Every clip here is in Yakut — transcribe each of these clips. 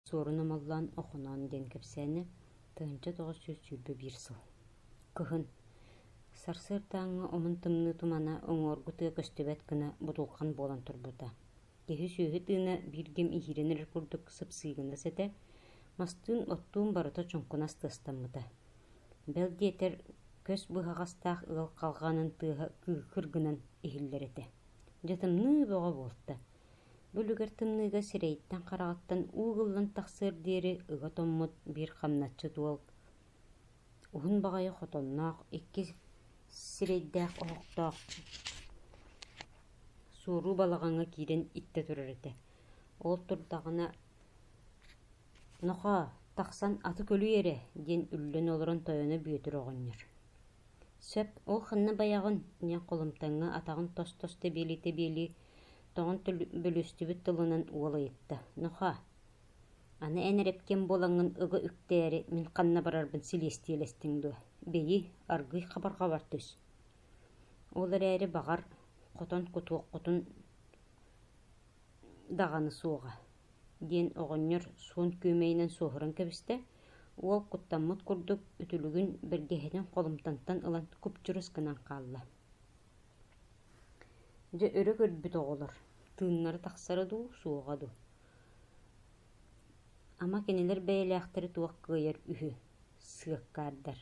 Суорун Омоллоон Охоноон диэн кэпсээнэ тыһыынча тоҕус сүүс сүүрбэ биир сыл. Кыһын. Сарсыардааҥҥы омун тымныы тумана уҥуоргу тыа көстүбэт гына будулҕан буолан турбута. Киһи-сүөһү тыына биир кэм иһиирэн эрэр курдук сыпсыы гыннас этэ, мастыын оттуун барыта чуҥкунас тыастаммыта. Бэл диэтэр, көс быһаҕастаах ыал халҕаанын тыаһа кыыкыр гынан иһиллэр этэ. Дьэ тымныы бөҕө буолта. Бу үлүгэр тымныыга сирэйиттэн-хараҕыттан уу ыллан тахсыар диэри ыга томмут биир хамначчыт уол, уһун баҕайы хотонноох, иккис сирэйдээх оһохтоох суоруу балаҕаҥҥа киирэн иттэ турар этэ. Ол турдаҕына «Нохоо, тахсан аты көлүй эрэ» диэн үллэн олорон тойоно Бүөтүр оҕонньор «Сөп, ол ханна байаҕын?» диэн холумтаҥҥа атаҕын тос-тос тэбиэлии-тэбиэлии тоҕон бөлүстүбүт тылынан уол ыйытта: «Нохоо, аны эн эрэпкиэн буолаҥҥын ыга үктээри мин ханна барарбын силиэстийэлэстиҥ дуо, бэйи, аргыый хабарҕабар түс» Ол эрээри, баҕар, хотон кутуоххутун даҕаны суоҕа, диэн оҕонньор суон күөмэйинэн суоһуран кэбистэ, уол куттаммыт курдук, үтүлүгүн бэргэһэтин холумтантан ылан куп-чурус гынан хаалла Дьэ өрө көрбүт оҕолор: «Тыыннары тахсара дуу, суоҕа дуу?» Ама кинилэр бэйэлээхтэри туох кыайар үһү, сыаккаардар.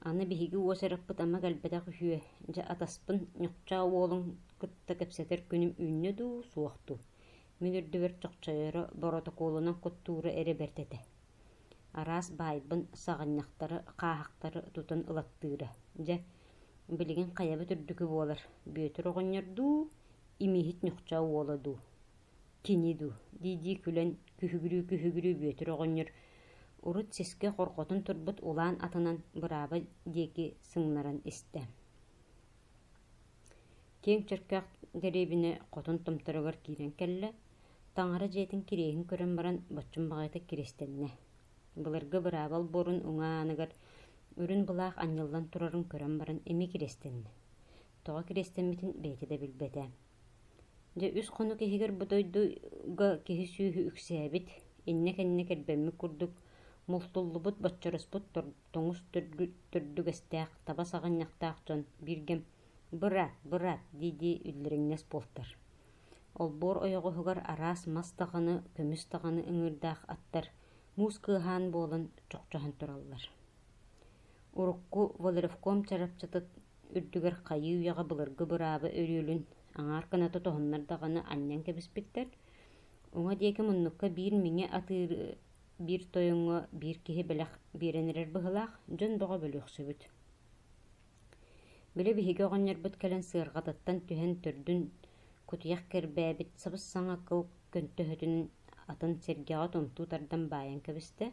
Аны биһиги уос эрехпит ама кэлбэтэх үһүө, дьэ атаспын ньукчаа уолун кытта кэпсэтэр күнүм үүннэ дуу, суох дуу? Мин үрдүбэр чохчойоро, боротокуолунан куттуура эрэ бэрт этэ Араас баайбын, саҕынньахтары, хааһахтары тутан ылаттыыра. Дьэ, билигин хайабыт үрдүкү буолар: Бүөтүр оҕонньор дуу, Имииһит Ньухчаа уола дуу, кини дуу? дии-дии күлэн күһүгүрүү-күһүгүрүү Бүөтүр оҕонньор урут сискэ хорҕотон турбут улаан атынан бырааба диэки сымнаран истэ киэҥ чөркөөх дэриэбинэ хотун томторугар киирэн кэллэ таҥара дьиэтин кириэһин көрөн баран боччум баҕайытык киристэннэ былыргы быраабал буорун уҥа ааныгар үрүн былаах анньыллан турарын көрөн баран эмиэ киристэннэ тоҕо киристэммитин бэйэтэ да билбэтэ дьэ үс хонук иһигэр бу дойдуга киһи-сүөһү үксээбит иннэ-кэннэ кэрбэммит курдук мултуллубут боччороспут тоҥус төрдүгэстээх таба саҕынньахтаах дьон бииргэ «Быра, быра!» дии-дии үллэриҥнэс буолтар. Олбуор ойоҕоһугар араас мас даҕаны, көмүс даҕаны ыҥыырдаах аттар муус кыаһаан буолан чохчоһон тураллар. Урукку Валерьевком чарапчытыт үрдүгэр хайыы үйэҕэ былыргы быраабы өрүөлүн аҥаар гына тутуһуннар даҕаны анньан кэбиспиттэр, уҥа диэки муннукка биир миҥэ атыыры Биир тойоҥҥо биир киһи бэлэх биэрэн эрэр быһыылаах, дьон бөҕө бөлүөхсүбүт. Били биһиги оҕонньорбут кэлэн сыарҕатыттан түһэн төрдүн кутуйах кэрбээбит сабыс-саҥа кыл көнтөһөтүн атын сэргэҕэ томтуу тардан баайан кэбистэ,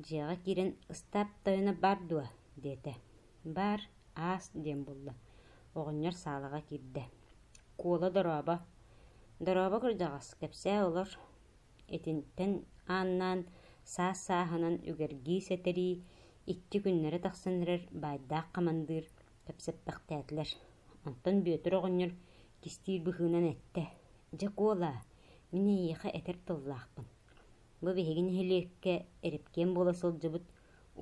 дьиэҕэ киирэн «Ыстаап тойоно баар дуо?» диэтэ. «Баар, аас» диэн булла. Оҕонньор саалаҕа киирдэ. «Куола дорообо». «Дорообо, кырдьаҕас, кэпсээ олор» Итинтэн ааннаан, саас-сааһынан үгэргии-сэтэрии икки күннэрэ тахсан эрэр баайдаах хамандыыр кэпсэппэхтээтилэр. Онтон Бүөтүр оҕонньор кистиир быһыынан эттэ: «Дьэ куолаа, мин эйиэхэ этэр тыллаахпын. Бу биһиги нэһилиэккэ Эрипкиэн буола сылдьыбыт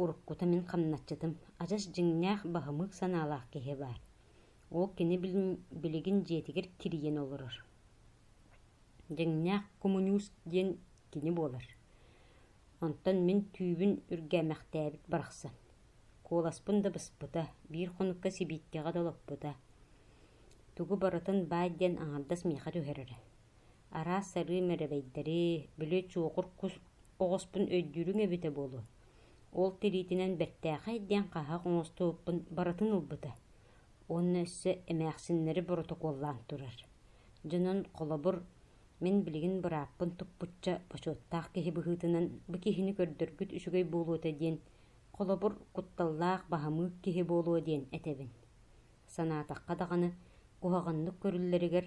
уруккута мин хамначчытым адьас дьиҥнээх баһымыык санаалаах киһи баар. Ол кини билигин дьиэтигэр тирийэн олорор. Дьиҥнээх коммунист диэн кини буолар, онтон мин түүбүн үргээмэхтээбит барахсан, куоласпын да быспыта, биир хонукка сибииккэҕэ да олоппута, тугу барытын баай диэн аҥардас миэхэ түһэрэрэ, араас сарыым эрэбэйдэри, били чуокур кус оҕуспун өйдүүрүҥ эбитэ буолуо, ол тириитинэн бэртээхэй диэн хаһаах оҥостубуппун барытын ылбыта уонна өссө эмээхсиннэри боротокуоллаан турар дьонун холобур мин билигин бырааппын туппучча бочуоттаах киһи быһыытынан бу киһини көрдөрбүт үчүгэй буолуота диэн холобур кутталлаах баһамыык киһи буолуо диэн этэбин санаатахха даҕаны куһаҕаннык көрүллэригэр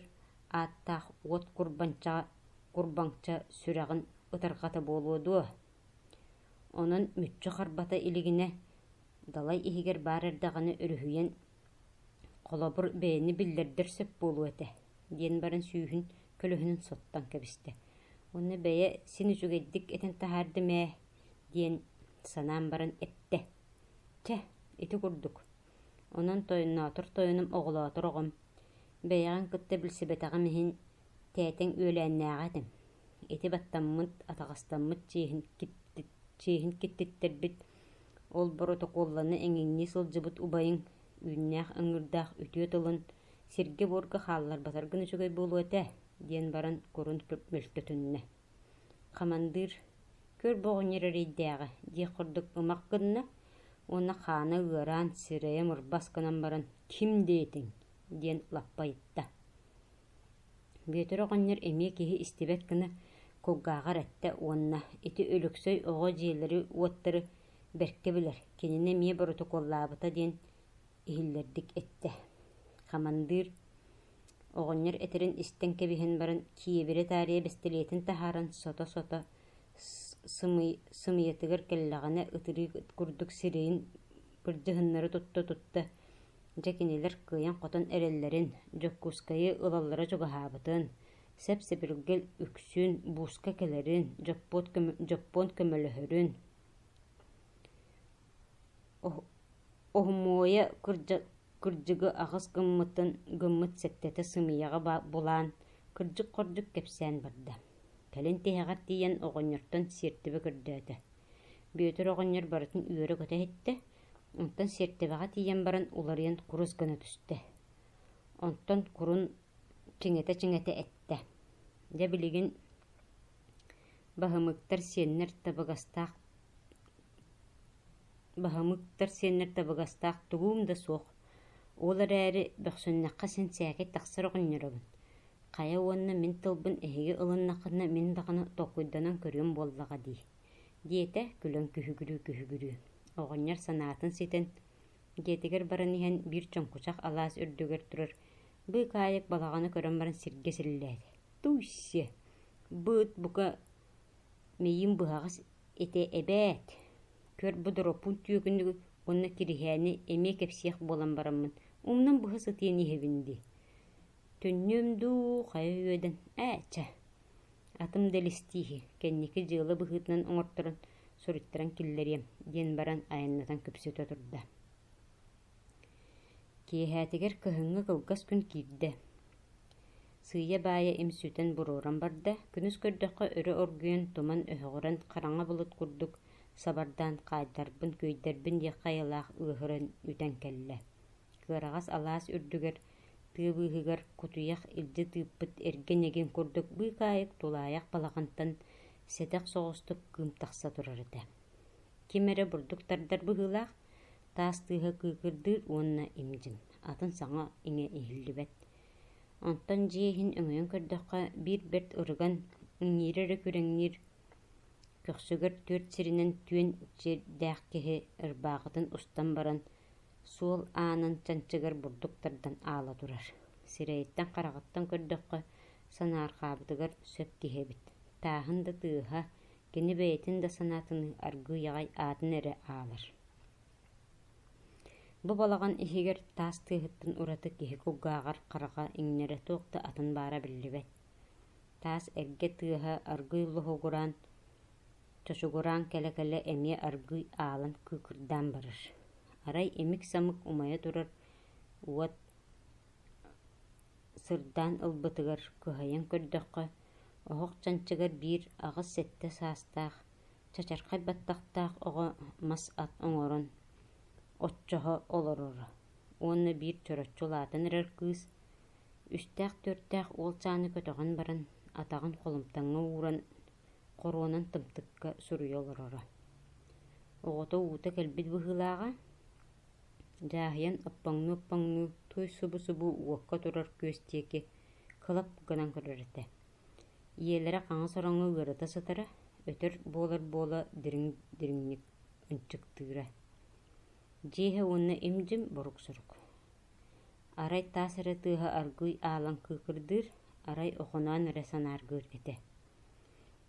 ааттаах уот курбанчаҕа курбаҥча сүрэҕин ытарҕата буолуо дуо онон мүччү харбата илигинэ Далай иһигэр баар эрдэҕинэ өрүһүйэн, холобур, бэйэни биллэрдэр сөп буолуо этэ, диэн баран сүүһүн көлөһүнүн соттон кэбистэ. Уонна бэйэ син үчүгэйдик этэн таһаардым ээ, диэн санаан баран эттэ. Чэ, ити курдук. Онон тойонноотор тойонум оҕолоотор оҕом. Бэйэҕин кытта билсибэтэҕим иһин, тээтэҥ үөлээннээҕэ этим. Ити баттаммыт, атаҕастаммыт чиэһин чиэһин киттиттэрбит, ол боротокуолланы эҥиҥнии сылдьыбыт убайыҥ үүннээх ыҥыырдаах үтүө тылын сиргэ-буорга хаалларбатаргын үчүгэй буолуо этэ, диэн баран курун мөлтөтүннэ. Хамандыыр «Көр бу оҕонньор эрэйдээҕэ» диэх курдук ымах гынна уонна хаана ыараан, сирэйэ мурбас гынан баран «Ким диэтиҥ?» диэн лаппа ыйытта. Бүөтүр оҕонньор эмиэ киһи истибэт гына кулгааҕар эттэ уонна ити Өлөксөй оҕо дьиэлэри-уоттары бэркэ билэр, кинини эмиэ боротокуоллаабыта диэн иһиллэрдик эттэ. Хамандыыр оҕонньор этэрин истэн кэбиһэн баран киэбирэ-таарыйа бэстилиэтин таһааран сото-сото сымыйатыгар кэллэҕинэ ытырыы курдук сирэйин кырдьыһыннары тутта-тутта, дьэ кинилэр кыайан-хотон эрэллэрин, Дьокуускайы ылаллара чугаһаабытын, сэп-сэбиргэл үксүн бууска кэлэрин, дьоппуон, көмө, дьоппуон көмөлөһөрүн, оһумуойа кырдьыгы, кырдьыгы аҕыс гыммытын гыммыт сэттэтэ сымыйаҕа булаан, кырдьык-хордук кэпсээн барда. Кэлин тиһэҕэр тиийэн оҕонньортон сиэртибэ көрдөөтө. Бүөтүр оҕонньор барытын үөрэ көтө иһиттэ, онтон сиэртибэҕэ тиийэн баран уларыйан курус гына түстэ. Онтон курун чиҥэтэ-чиҥэтэ эттэ: «Дьэ билигин баһымыктар сиэннэр табыгастаах баһымыктар сиэннэр табыгастаах тугум да суох Ол эрээри, бөхсүннэххэ син сээкэй тахсар оҕонньоробун, хайа уонна мин тылбын эһиги ылыннаххына мин даҕаны толкуйданан көрүөм буоллаҕа дии, диэтэ күлэн күһүгүрүү-күһүгүрүү, оҕонньор санаатын ситэн, дьиэтигэр баран иһэн биир чоҥкучах алаас үрдүгэр турар быыкаайык балаҕаны көрөн баран сиргэ силлээтэ: «Туйсиэ, быыт бука Миим быһаҕас этэ эбээт, көрт бу доропуун түөкүнүгү уонна тириһээни эмиэ кэпсиэх буолан бараммын, умнан быһа сытыан иһэбин дии Түннүөм дуу, хайа үөдэн «Ээччэ!» Атым да илистииһи, кэнники дьыала быһыытынан оҥорторон, суруйтаран киллэриэм, диэн баран айаннатан күпсэтэ турда Киэһээтигэр кыһыҥҥы кылгас күн киирдэ. Сыыйа-баайа имсүүтэн буруоран барда, күнүс көрдөххө өрө оргуйан, туман өһөҕүрэн, хараҥа былыт курдук сабардаан хаайдарбын, күөйдэрбин диэххэ айылаах ыаһыран үтэн кэллэ. Кыараҕас алаас үрдүгэр, тыа быыһыгар кутуйах илдьэ тыыппыт эргэ ньэгиҥ курдук быыкаайык тулаайах балаҕантан сэтэх соҕустук кыым тахса турар этэ. Ким эрэ бурдук тардар быһыылаах, таас тыаһа кыыкырдыыр уонна имдьин, атын саҥа иҥэ иһиллибэт. Онтон дьиэ иһин өҥөйөн көрдөххө, биир бэрт ырыган, иҥиирэ эрэ күрэҥниир, көхсүгэр түөрт сиринэн түөн сирдээх киһи ырбаахытын устан баран, суол аанын чанчыгар бурдук тардан аала турар. Сирэйиттэн-хараҕыттан көрдөххө, санаарҕаабытыгар сөп киһи эбит. Тааһын да тыаһа, кини бэйэтин да санаатыныы аргыый-аҕай аатын эрэ аалар Бу балаҕан иһигэр таас тыаһыттан ураты киһи кулгааҕар хараҕа иҥнэрэ туох да атын баара биллибэт. Таас эргэ тыаһа аргыый лоһугураан, чочугураан кэлэ-кэлэ эмиэ аргыый аалан кыыкырдаан барар. Арай имик-самык умайа турар уот сырдаан ылбытыгар кыһайан көрдөххө, Оһох чанчыгар биир аҕыс сэттэ саастаах, чачархай баттахтаах оҕо мас ат оҥорон, оччоҕо олороро уонна биир чороччу улаатан эрэр кыыс, үстээх-төрүттээх уолчааны көтөҕөн баран, атаҕын холумтаҥҥа ууран, хоруонан тымтыкка суруйа олороро. Оҕото уута кэлбит быһыылааҕа, дьааһыйан оппоҥнуу-оппоҥнуу туой субу-субу уокка турар күөс диэки кылап гынан көрөр этэ ийэлэрэ хаҥас ороҥҥо ыарыта сытара өтөр буолар буола дириҥ дириҥник ынчыктыыра дьиэһэ уонна им-дьим борук-сорук арай таас эрэ тыаһа аргыый аалан кыыкырдыыр арай охоноон эрэ санааргыыр этэ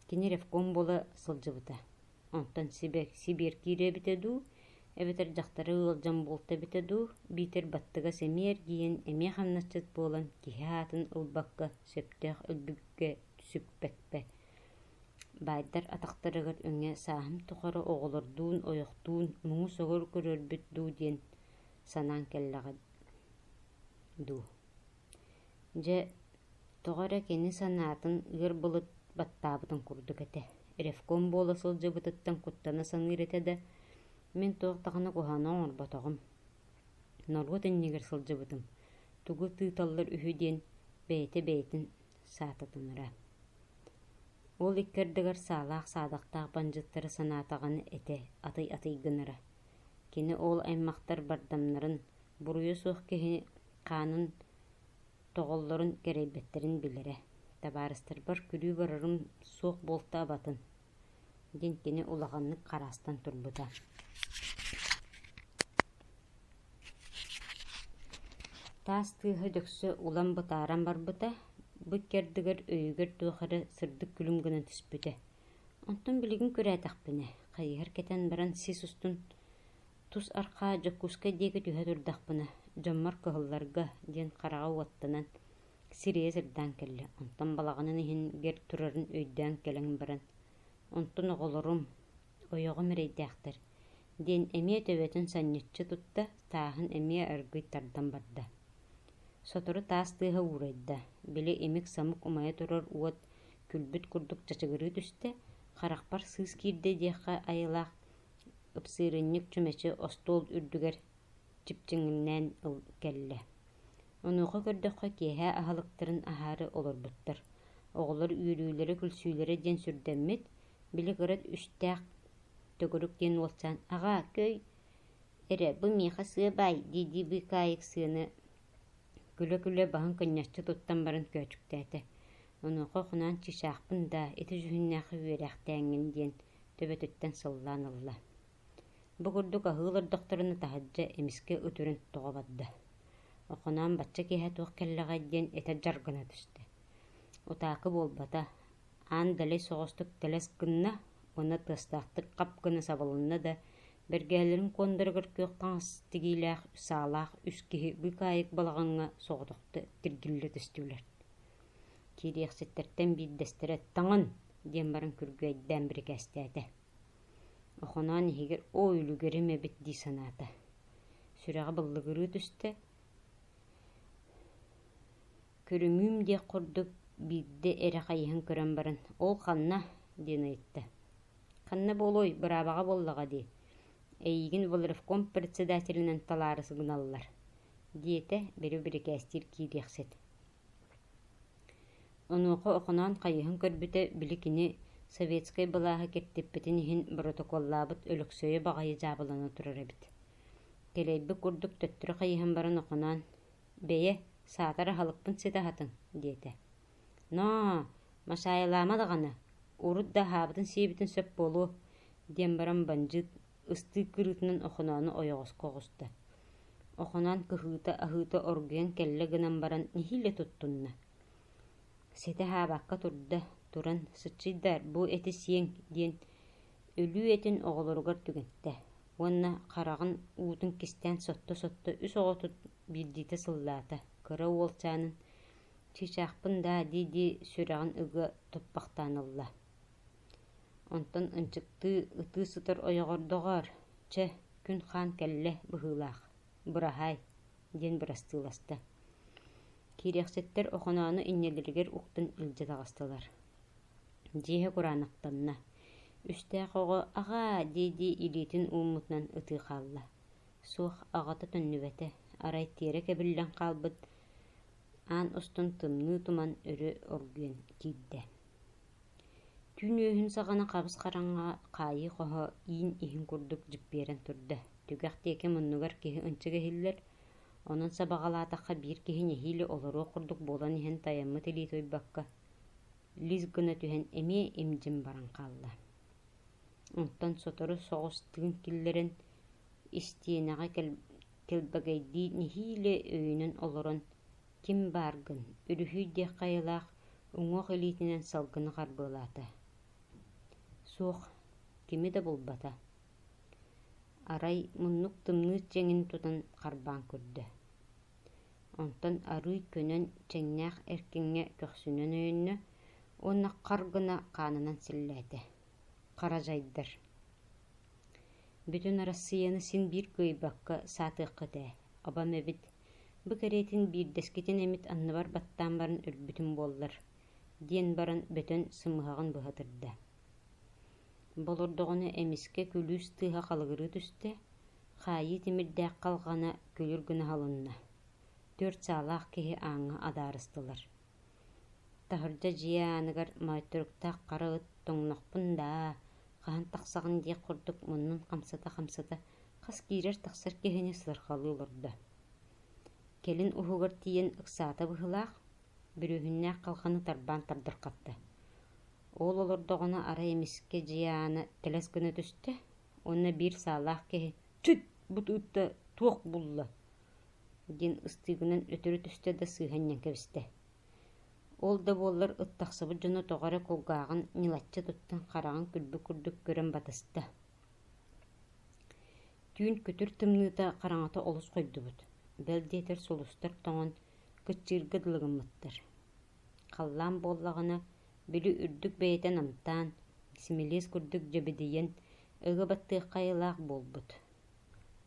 кини ревком буола сылдьыбыта Онтон сибэк сибиэр киирэ эбитэ дуу, эбэтэр дьахтары ыалдьан буолта эбитэ дуу, биитэр баттыгас эмиэ эргийэн эмиэ хамначчыт буолан киһи аатын ылбакка сөптөөх өлбүккэ сүппэккэ баайдар атахтарыгар өҥө сааһым тухары оҕолордуун, ойохтуун муҥус огур көрөрбүт дуу диэн санаан кэллэҕэ дуу Дьэ, тоҕо эрэ кини санаатын ыар былыт баттаабытын курдук этэ, ревком буола сылдьыбытыттан куттана саныыр этэ да, мин туох даҕаны куһаҕаны оҥорботоҕум, норуот иннигэр сылдьыбытым, тугу тыыталлар үһү диэн бэйэтэ бэйэтин саататынара. Ол икки ардыгар саалаах-саадахтаах бандьыттары санаатаҕына этэ атай атый гынара. Кини ол аймахтар бардамнарын, буруйа суох киһини хаанын тоҕоллорун кэрэйбэттэрин билэрэ, табаарыстарбар күлүү барарым суох буолтаабатын диэн кини улаханнык хараастан турбута таас тыаһа дьөксө улам бытааран барбыта бу икки өйүгэр туох эрэ сырдык күлүм гынан түспүтэ онтон билигин күрээтэхпинэ хайыһар кэтэн баран сис устун Тус арҕаа Дьокуускай диэки түһэ турдахпына, дьоммор кыһылларга диэн хараҕа уоттанан, сирийэ сырдаан кэллэ. Онтон балаҕанын иһин гэр турарын өйдөөн кэлэн баран, «Онтон оҕолорум, ойоҕум эрэйдээхтэр» диэн эмиэ төбөтүн санньыччы тутта, тааһын эмиэ аргыый тардан барда. Сотору таас тыаһа уурайда, били имик-самык умайа турар уот күлбүт курдук чачыгырыы түстэ, харахпар сыыс киирдэ диэххэ айылаах, Ыпсыырынньык чүмэчи остуол үрдүгэр чипчиҥнээн ыл кэллэ. Онуоха көрдөххө киэһэ аһылыктарын аһаары олорбуттар. Оҕолор үөрүүлэрэ-күлсүүлэрэ диэн сүрдэммит, били кыра үстээх төгүрүк диэн уолчаан «Аҕаа, күэй, эрэ бу миэхэ сыа баай» дии-дии быыкаайык сыаны күлэ-күлэ баһын кынньаччы туттан баран көөчүктээтэ. Онуоха «Хунаан чыычаахпын даа, ити дьүһүннээххэ үөрээхтээҥҥин» диэн төбөтүттэн сыллаан ылла. Бу курдук аһыы олордохторуна таһырдьа эмискэ үтүрүн тоҕо барда. Охоноон бачча киэһэ туох кэллэҕэй диэн этэр дьаргана түстэ. Утаакы буолбата, аан далай соҕустук тэлэс гынна уонна тыастаахтык хап гына сабылынна да, бэргэһэлэрин куондаругар күөх хаҥас тигиилээх саалаах үс киһи быыкаайык балаҕаҥҥа соҕотохто тиргиллэ түстүлэр. Киириэхситтэртэн биирдэстэрэ «Таҥан!» диэн баран күргүөйдээн бирикээстээтэ. Охоноон иһигэр «Оо, үлүгэрим эбит» дии санаата. Сүрэҕэ быллыгырыы түстэ. «Көрүҥүүм» диэх курдук биирдэ эрэ хайыһан көрөн баран «Ол ханна?» диэн ыйытта. «Ханна буолуой, быраабаҕа буоллаҕа дии, эйиигин волревком председателинэн талаары гыналлар» диэтэ били бирикээстиир киириэхсит Онуоха Охоноон хайыһан көрбүтэ, били кини советскай былааһы киртиппитин иһин боротокуоллаабыт Өлөксөйө баҕайы дьаабылана турар эбит Кэлэйбит курдук төттөрү хайыһан баран Охоноон «Бэйэ, саатар аһылыкпын ситэ аһатыҥ» диэтэ. «Ноо, Машаайылаама даҕаны, урут да аһаабытын-сиэбитин сөп буолуо» диэн баран бандьыыт ыстыык кырыытынан Охоноону ойоҕоско оҕуста. Охоноон кыһыыта-аһыыта оргуйан кэллэ гынан баран нэһиилэ туттунна. Ситэ аһаабакка турда, туран «Сыччыйдар, бу эти сиэҥ» диэн өлүү этин оҕолоругар түгэнтэ уонна хараҕын уутун кистээн сотто-сотто үс оҕотут биирдиитэ сыллаата, кыра уолчаанын «Чыычаахпын даа» дии-дии сүрэҕин ыга туппахтаан ылла Онтон ынчыктыы ытыы сытар ойоҕор «Доҕоор, чэ, күн хаан кэллэ быһыылаах, быраһаай» диэн бырастыыласта. Киириэхчэттэр Охоноону иннилэригэр уктан илдьэ таҕыстылар. Дьиэһэ кураанахтанна. Үстээх оҕо «Аҕаа» дии-дии илиитин ууммутунан ытыы хаалла. Суох, аҕата төннүбэтэ, арай тиэрэ кэбиллэн хаалбыт аан устун тымныы туман өрө оргуйан киирдэ түүн үөһүн саҕана хабыс хараҥа хаайыы хоһо иин иһин курдук дьиппиэрэн турда түгэх диэки муннугар киһи ынчык иһиллэр онон сабаҕалаатахха биир киһи нэһиилэ олоруох курдук буолан иһэн тайаммыт илии туйбакка лис гына түһэн эмиэ им-дьим баран хаалла онтон сотору соҕус тыын киллэрэн истиэнэҕэ кэлбэгэйдии нэһиилэ өйүнэн олорон ким бааргын, үлүһүй диэх хайалаах уҥуох илиитинэн салгыны харбыалаата. Суох, кими да булбата. Арай муннук тымныы чэҥин тутан харбаан көрдө. Онтон арыый көнөн чэҥнээх эркиҥҥэ көхсүнэн өйөннө уонна хар гына хаанынан силлээтэ. Хара дьайдар. Бүтүн Арассыыйаны син биир кыайбакка саатыаххыт ээ, абам эбит бу кэриэтин биирдэскитин эмит анныбар баттаан баран өлбүтүм буоллар диэн баран бөтөн сымыһаҕын быһа турда болордоҕуна эмискэ күлүүс тыаһа халыгырыы түстэ хаайыы тимирдээх халҕана күлүр гына халынна түөрт саалаах киһи ааҥҥа адаарыстылар Таһырдьа дьиэ ааныгар моойторуктаах хара ыт тоҥнохпун даа, хаһан тахсаҕын диэх курдук муннун хамсата-хамсата хас киирэр-тахсар киһини сыарҕалыы олордо. Кэлин уһугар тиийэн ыксаата быһыылаах, бүрүөһүннээх халҕаны тарбаан тардархатта. Уол олордоҕуна арай эмискэ дьиэ аана тэлэс гына түстэ уонна биир саалаах киһи «Чыт! Бу ытта туох булла диэн ыстыыбынан өтөрү түстэ да сыыһанньан кэбистэ. Ол да буоллар ыт тахсыбыт дьоно тоҕо эрэ кулгааҕын ньылаччы туттан хараҕын күлбүк курдук көрөн батыста түүн күтүр тымныыта хараҥата олус хойдубут, бэл диэтэр сулустар тоҥон, кыччыырга дылы гыммыттар. Халлаан буоллаҕына, били үрдүк бэйэтэ намтаан, симилиэс курдук дьэбидийэн, ыга баттыахха айылаах буолбут.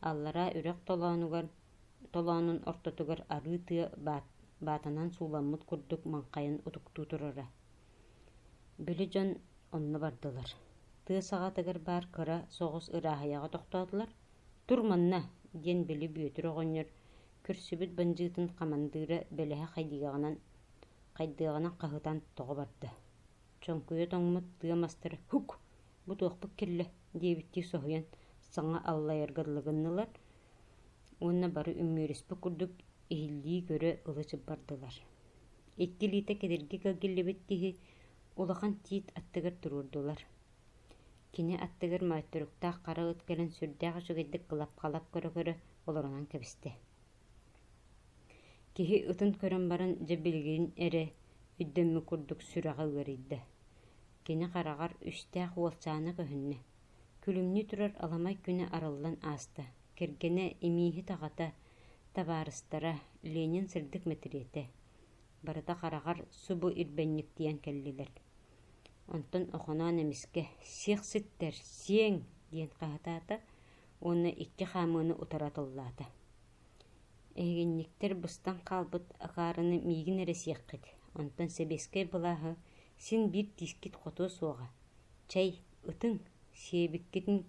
аллараа үрэх толоонугар толоонун ортотугар арыы тыа баатанан сууламмыт курдук маҥхайан утуктуу турара били дьон онно бардылар тыа саҕатыгар баар кыра соҕус ырааһыйаҕа тохтоотулар тур манна диэн били бүөтүр оҕонньор күрсүбүт бандьыытын хамандыыра бэлэһэ хайдыаҕынан хаһытан тоҕо барда чоҥкуйа тоҥмут тыа мастара һук бу туохпут кэллэ диэбиттии соһуйан саҥа аллайарга дылы гыннылар уонна бары үмүөрүспүт курдук иһиллии көрө ылы бардылар икки илиитэ кедирги кэлгиллибит киһи улахан тиит аттыгар туруордулар кини аттыгар маайтуруктаах хара ыт кэлэн сүрдээх үчүгэйдик кылап-халап көрө-көрө олорунан кэбистэ киһи ытын көрөн баран дьэ билигин эрэ өйдөммүт курдук сүрэҕэ ыарыйда Кини хараҕар үстээх уолчаана көһүннэ, күлүмнүү турар аламай күнэ арыллан ааста. Кэргэнэ, имииһит-аҕата, табаарыстара, Ленин сырдык мэтириэтэ, барыта хараҕар субу ирбэнньиктийэн кэллилэр. Онтон Охоноон эмискэ «Сиэх ситтэр, сиэҥ!» диэн хаһытаата уонна икки хаамыыны утары атыллаата. Эһигинньиктэр быстан хаалбыт акаарыны миигин эрэ сиэххит, онтон сэбиэскэй былааһы син биир тиискит хотуо суоҕа, чэй, ытыҥ, сиэбиккитин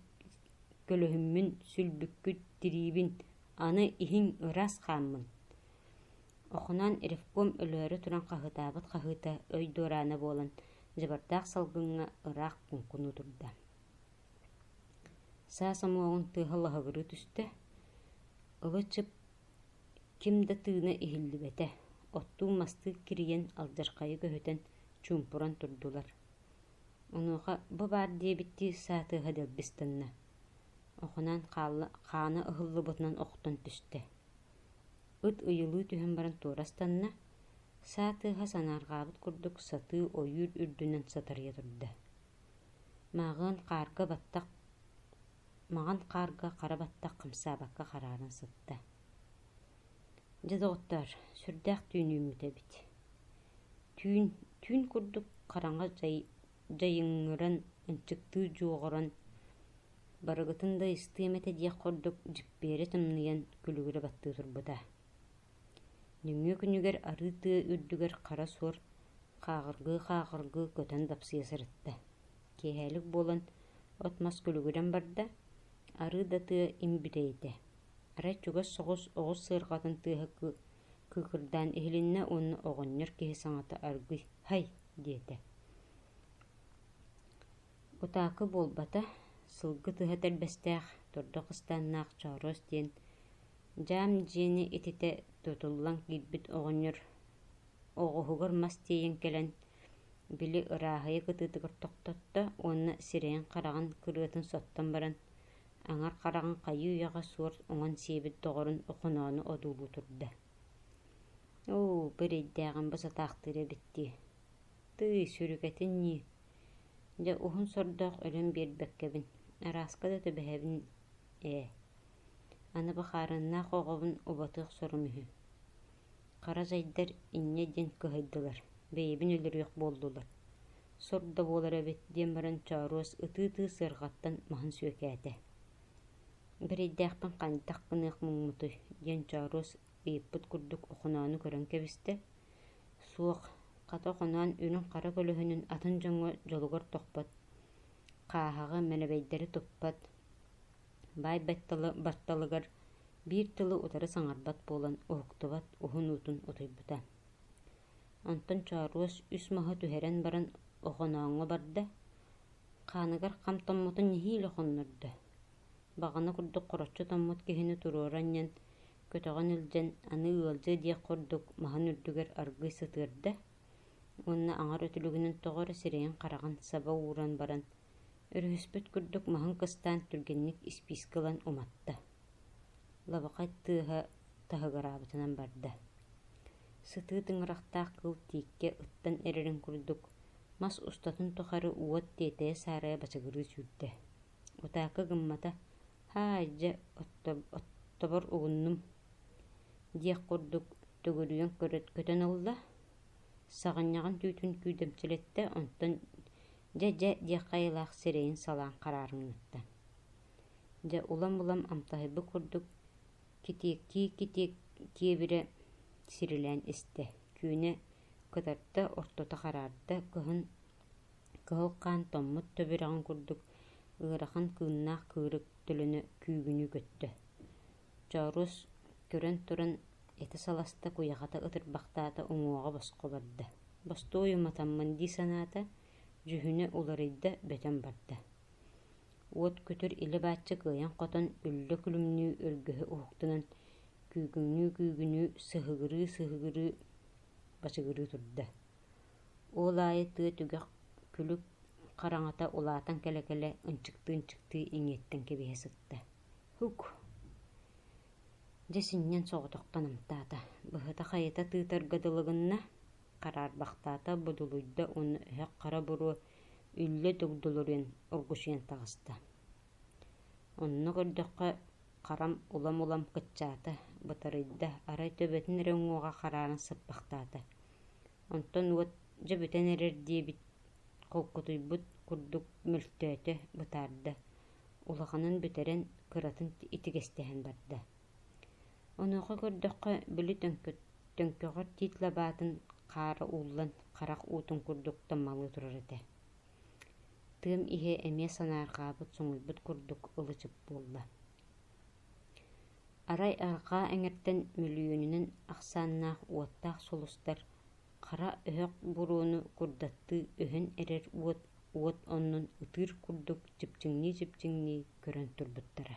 көлөһүммүн, сүлбүккүт тириибин, аны иһиҥ ыраас хааммын, охоноон ревком өлөөрү туран хаһыытаабыт хаһыыта өй дуораана буолан дьабардаах салгыҥҥа ыраах куҥкуну турда. Саас омуоҕун тыаһа лаһыгырыы түстэ, ылы чып ким да тыына иһиллибэтэ оттуу-мастыы кирийэн алдьархайы көһүтэн чуумпуран турдулар онуоха бу баар диэбиттии саатыаһа дэлбистанна охунаан хаалла хаана ыһыллыбытынан охтон түстэ ыт ыйылыы түһэн баран туорастанна саатыаһа санаарҕаабыт курдук сатыы ойуур үрдүнэн сатарыйа турда Мааҕыан хаарга баттах маҕан хаарга хара баттах хамсаабакка харааран сытта: «Дьэ, доҕоттоор, сүрдээх түүн үүммүт эбит. түүн, түүн курдук хараҥа дьай дьайыҥҥыран, ынчыктыы дьуоҕуран, барыгытын да ыстыам этэ» диэх курдук дьиппиэрэ тымныйан күлүгүрэ баттыы турбута Нөҥүө күнүгэр арыы тыа үрдүгэр хара суор хааҕыргыы-хааҕыргыы көтөн дапсыйа сырытта, киэһээлик буолан от-мас күлүгүрэн барда, арыы да тыа им бүтэйитэ, арай чугас соҕус оҕус сыарҕатын тыаһа кыыкырдаан иһилиннэ уонна оҕонньор киһи саҥата аргый «һай» диэтэ. Кутаакы буолбата, сылгы тыһа тэлбэстээх, тордох ыстааннаах Чооруос диэн Дьаам дьиэни ититэ тутуллан киирбит оҕонньор оҕуһугар мас тиэйэн кэлэн, били ырааһыйа кытыытыгар тохтотто уонна сирэйин-хараҕын кырыатын соттон баран, аҥар хараҕын хайыы үйэҕэ суор уҥан сиэбит доҕорун охоноону одуулуу турда. «Оо, бу эрэйдээҕим бу сатаахтыыр эбит дии, тыый, сүрүкэтин ньии, дьэ уһун сордоох өлөн биэрбэккэбин, арааска да түбэһэбин Ээ, аны бакаарыннаах оҕобун убатыах сорум үһү Хара зайдар инньэ диэн кыһайдылар, бэйэбин өлөрүөх буоллулар, сор да буолар эбит диэн баран Чооруос ытыы-ытыы сыарҕаттан маһын сүөкээтэ Бэрэйдээхпин хантах гыныах муҥмутуй диэн Чооруос ыйыппыт курдук охоноonu көрөн кэбистэ Суох, хата охоноон үрүҥ хара көлөһүнүн атын дьоҥҥо дьолугар тохпот хааһаҕа мэнэбэйдэри туппат баай батталыгар биир тылы утары саҥарбат буолан уһуктубат уһун уутун утуйбута онтон чооруос үс маһы түһэрэн баран охонооҥҥо барда хааныгар хам томмотун нэһиилэ хоннордо баҕана курдук хороччу томмут киһини туруору анньан көтөҕөн илдьэн аны ыалдьыа диэх курдук маһын үрдүгэр аргыый сытыарда Уонна аҥар өтүлүгүнэн тоҕо эрэ сирэйин-хараҕын саба ууран баран, өрүһүспүт курдук маһын кыстаан түргэнник испиискэ ылан уматта, лабахай тыаһа таһыгыраабытынан барда. Сытыы тыҥырахтаах кыл тииккэ ыттан эрэрин курдук, мас устатын тухары уот тиэтэйэ-саарайа бачыгырыы сүүрдэ. Утаакы гыммата, һаа дьэ оттобор угуннум диэх курдук төгүрүйэн көтөн ылла саҕынньаҕын түүтүн күүтэмчилэттэ онтон дьэ дьэ диэх хайалаах сирэйин салаан хараарымнатта дьэ улам-улам амтаһыйбыт курдук китиэккиэ-китиэккиэбирэ сирилээн истэ күүнэ кытарта ортото хараарда кыһын Кыһыл хаан томмут төбүрэҕин курдук ыарахан кыыннаах кыырык төлөнө күүгүнүү көттө. Чоорус көрөн туран ити саласта куйахата ытырбахтаата, уҥуоҕа босхо барда. «Бостуой уматаммын» дии санаата, дьүһүнэ уларыйда, бөтөн барда. Уот көтөр илэ-бааччы кыайан-хотон, үллэ күлүмнүү өргөһө уһуктунан, күүгүнүү-күүгүнүү, сыһыгырыы-сыһыгырыы бачыгырыы турда. Ол аайы тыа түгэх күлүк хараҥата улаатан кэлэ-кэлэ ынчыктыы-ынчыктыы иҥиэттэн кэбиһэ сытта: «Һук!» Дьэ синньэн соҕотохтон амтаата, быһыта-хайыта тыытарга дылы гынна, хараарбахтаата, будулуйда уонна өһөх хара буруо үллэ дугдулуруйан оргучуйан таҕыста. Онно көрдөххө, харам улам-улам кыччаата, бытарыйда, арай төбөтүн эрэ уҥуоҕа харааран сыппахтаата. Онтон уот дьэ бүтэн эрэр диэбит холкутуйбут курдук мөлтөөтө, бытаарда, улаханын бүтэрэн, кыратын итигэстэһэн барда. Онуоха көрдөххө, били төҥкөҕөр тиит лабаатын хаара ууллан харах уутун курдук таммалыы турар этэ. Тыам иһэ эмиэ санаарҕаабыт соҥуйбут курдук ылычык буолла Арай арҕаа эҥэртэн мөлүйүөнүнэн ахсааннаах уоттаах сулустар хара өһөх буруону курдаттыы өһөн эрэр уот уот оннун ытыыр курдук чипчиҥнии-чипчиҥнии көрөн турбуттара